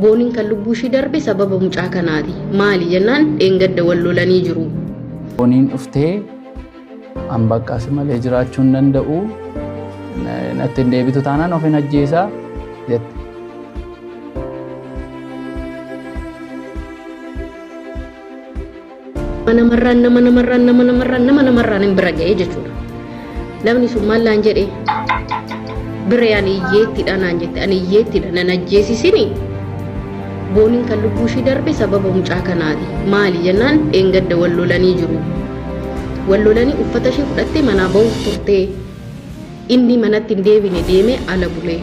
Booniin kan lubbuu ishii darbe sababa mucaa kanaati. Maali jennaan dheengadda wal lolanii jiru. Booniin dhuftee an bakka si malee jiraachuu hin danda'u natti hin deebitu taanaan of hin ajjeesaa jette. Nama namarraan nama namarraan nama namarraan nama namarraan hin bira ga'ee jechuudha. Namni sun maal naan jedhe bire ani iyyeettidha naan jette ani iyyeettidha nan ajjeesisini booniin kan lubbuu ishii darbe sababa mucaa kanaati maali jennaan dheengadda wal lolanii jiru. Wal lolanii uffata ishii fudhattee manaa ba'uuf turtee Inni manatti hin deebine deemee ala bulee.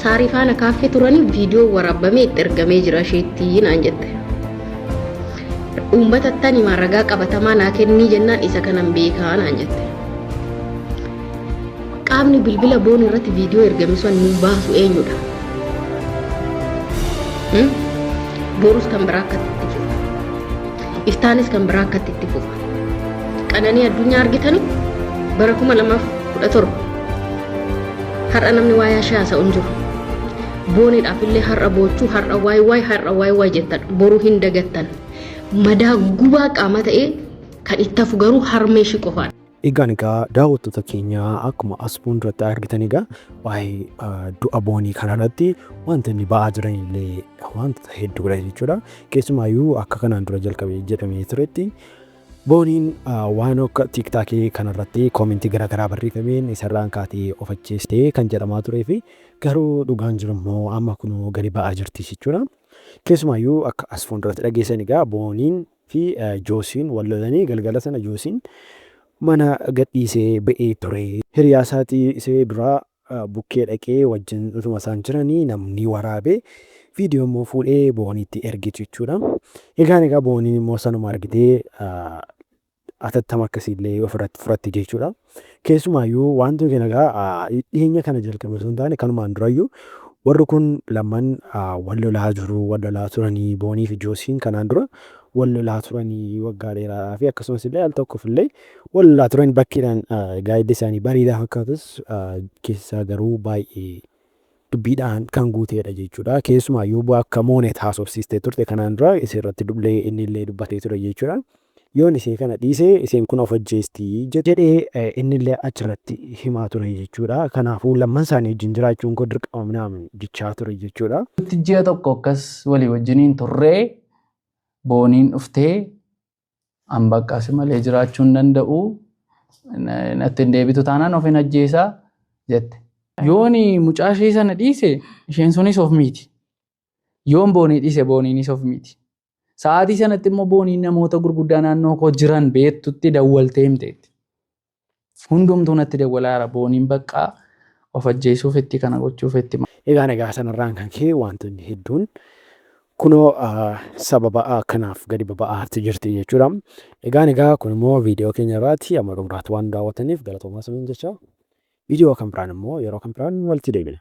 Saarii faana kaaffee turanii viidiyoo waraabamee itti ergamee jira isheetti naan jette. Uummata tani maa ragaa qabatamaa naa kennii jennaan isa kanan beekaa naan jette. Qaamni bilbila boonii irratti viidiyoo ergame sun nuu baasu eenyudha? Borus kan biraa akkatti itti fufa. Iftaanis kan biraa akkatti itti fufa. Qananii addunyaa argitani bara 2017 har'a namni waa'ee ashee haasa'u hin jiru. Booniidhaaf illee har'a boochuu har'a waay waay har'a waay waay jettan boruu hin dagattan. Madaa gubaa qaama ta'ee kan itti hafu garuu harmee ishii qofaadha. Egaan egaa daawwattoota keenya akkuma as fuulduratti argitan egaa waa'ee du'a boonii kanarratti wanti inni ba'aa jiran illee wanta hedduudha jechuudha. Keessumaayyuu akka kanaan dura jalqabe jedhamee turetti Booniin waan akka tiiktaakii kanarratti koomentii garaagaraa barreeffameen isarraan kaatee of ajjeestee kan jedhamaa turee fi garuu dhugaan jiru immoo amma kunoo gadi ba'aa jirti jechuudha. Keessumaayyuu akka as fuulduratti dhageessan egaa Booniin fi Joosiin wal lolanii galgala sana Joosiin mana gadhiisee ba'ee ture. Hiriyaa isaatii isee duraa bukkee dhaqee wajjin utuma isaan jiranii namni waraabe viidiyoo immoo fuudhee booniitti erge jechuudha. Egaan egaa booniin immoo sanuma argitee atattama akkasiillee ofirratti fudhatte jechuudha. Keessumaayyuu wanti yookiin egaa dhiyeenya kana jalqabe osoo hin taane kanumaan durayyuu warri kun lamaan wal lolaa jiru wal lolaa turanii boonii fi joosiin kanaan dura wal lolaa turanii waggaa dheeraa fi akkasumas illee al tokkoof illee Wallalaa turan bakkeedhaan gaa'illi isaanii bareedaa fakkaatus keessaa garuu baay'ee dubbiidhaan kan guuteedha jechuudha. Keessumaa Yoobuu akka moonet haasofsiistee turte kanaan dura isee irratti dublee inni illee dubbatee ture jechuudha. Yoon isee kana dhiise iseen kun of ajjeesti jedhee inni illee achirratti himaa ture jechuudha. Kanaafuu lamman isaanii wajjin jiraachuun koo dirqama minaam jechaa ture jechuudha. Nuti ji'a tokko akkas walii wajjiniin turree booniin dhuftee An bakka si malee jiraachuu hin danda'u. Natti hin deebitu taanaan of hin ajjeesaa jette. Yoon mucaa ishee sana dhiise isheen sunis of miiti. Yoon boonii dhiise booniinis of miiti. Sa'aatii sanatti immoo booniin namoota gurguddaa naannoo koo jiran beektutti dawwaltee himteetti. Hundumtuu natti dawwalaara booniin baqqa of ajjeesuu fetti kana gochuu fetti. Egaan egaa sanarraan kan ka'e waantonni hedduun kunoo sababa kanaaf gadi baba'aatti jirti jechuudha. Egaan egaa kun immoo viidiyoo keenya irraatti amma dhumraatti waan daawwataniif galatoomaa isiniin jecha viidiyoo kan biraan immoo yeroo kan biraan walitti deebina.